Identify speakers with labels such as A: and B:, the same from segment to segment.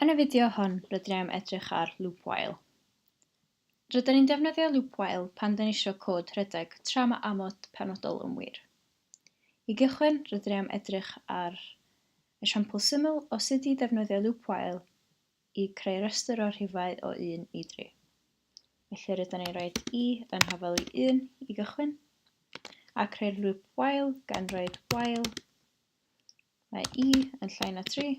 A: Yn y fideo hwn, rydyn ni am edrych ar loop while. Rydyn ni'n defnyddio loop while pan dyn ni eisiau cod rhedeg tra mae amod penodol yn wir. I gychwyn, rydyn ni am edrych ar esiampl syml o sut i ddefnyddio loop while i greu rhestr o rhifau o 1 i 3. Felly rydyn ni'n rhoi i yn hafel i 1 i gychwyn, a creu'r lŵp while gan roi while mae i yn llai na 3,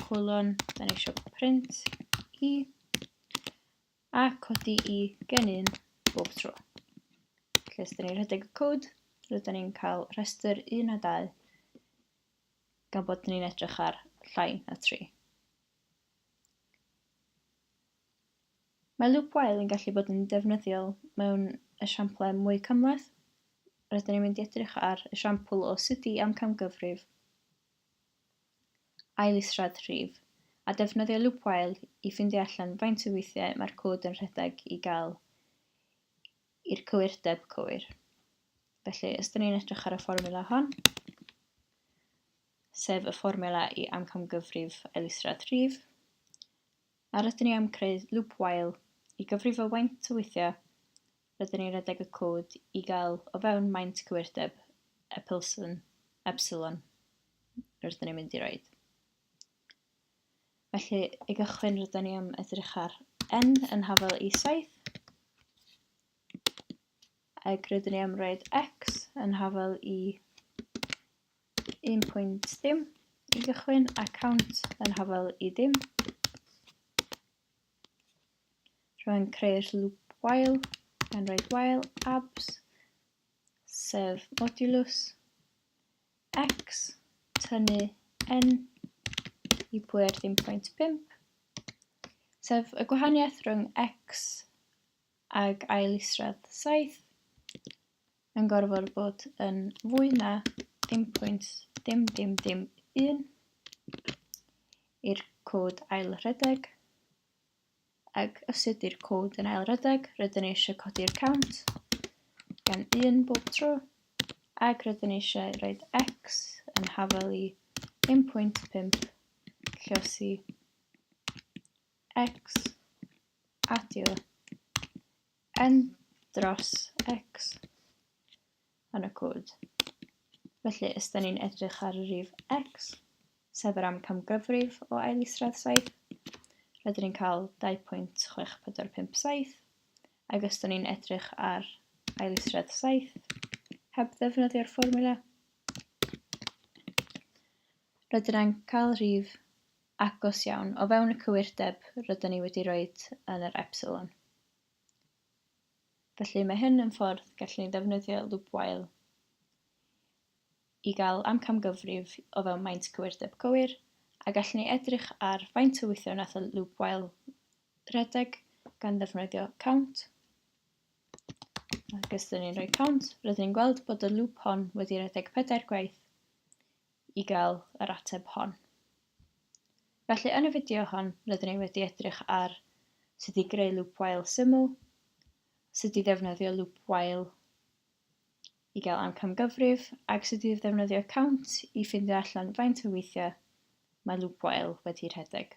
A: colon, da ni eisiau print i, a codi i gen 1 bob tro. Felly, os da ni'n rhedeg y cod, rydyn ni'n cael rhestr 1 a 2 gan bod ni'n edrych ar llai na 3. Mae loop while yn gallu bod yn defnyddiol mewn esiamplau mwy cymhleth. Rydyn ni'n mynd i edrych ar esiampl o sut i amcamgyfrif aillisrad rhif a defnyddio loop while i ffindio allan faint o weithiau mae'r cod yn rhedeg i gael i'r cywirdeb cywir. Felly, os ydyn ni'n edrych ar y fformula hon, sef y fformula i amcamgyfrif elusrad rhif, a rydyn ni am creu loop while i gyfrifo faint o weithiau rydyn ni'n redeg y cod i gael o fewn maint cywirdeb epsilon, epsilon rydyn ni'n mynd i roed. Felly, i gychwyn, rydyn ni am edrych ar n yn hafel i 7. Ac rydyn ni am roed x yn hafel i 1 pwynt dim i gychwyn a count yn hafel i dim. Rwy'n creu'r loop while gan roed while abs, sef modulus, X, tynnu N i pwer ddim pwynt 5, sef y gwahaniaeth rhwng X ag ail isradd 7, yn gorfod bod yn fwy na dim pwynt dim dim dim 1 i'r cod ail rhedeg. ac os ydy'r cod yn ail redeg, rydyn ni eisiau codi'r count gan 1 bob tro, ac rydyn ni eisiau rhoi x yn hafel i 1.5 llosi x adio n dros x. yn y cod. Felly, os da ni'n edrych ar y rif x, sef yr amcamgyfrif o ail isradd 7, rydyn ni'n cael 2.6457, ac os da ni'n edrych ar ail isradd 7, heb ddefnyddio'r fformula. Rydyn ni'n cael rhif agos iawn o fewn y cywirdeb rydyn ni wedi rhoi yn yr epsilon. felly mae hyn yn ffordd gallwn ni ddefnyddio lwybwail i gael amcangyfrif o fewn maint cywirdeb cywir a gallwn ni edrych ar faint o weithiau wnaeth y lwybwail redeg gan ddefnyddio count ac os ydyn ni'n rhoi count rydyn ni'n gweld bod y lŵp hon wedi rhedeg pedair gwaith i gael yr ateb hon. Felly yn y fideo hon rydyn ni wedi edrych ar sut i greu loop while syml, sut i ddefnyddio loop while i gael amcamgyfrif ac sut i ddefnyddio count i ffindio allan faint o weithiau mae loop while wedi rhedeg.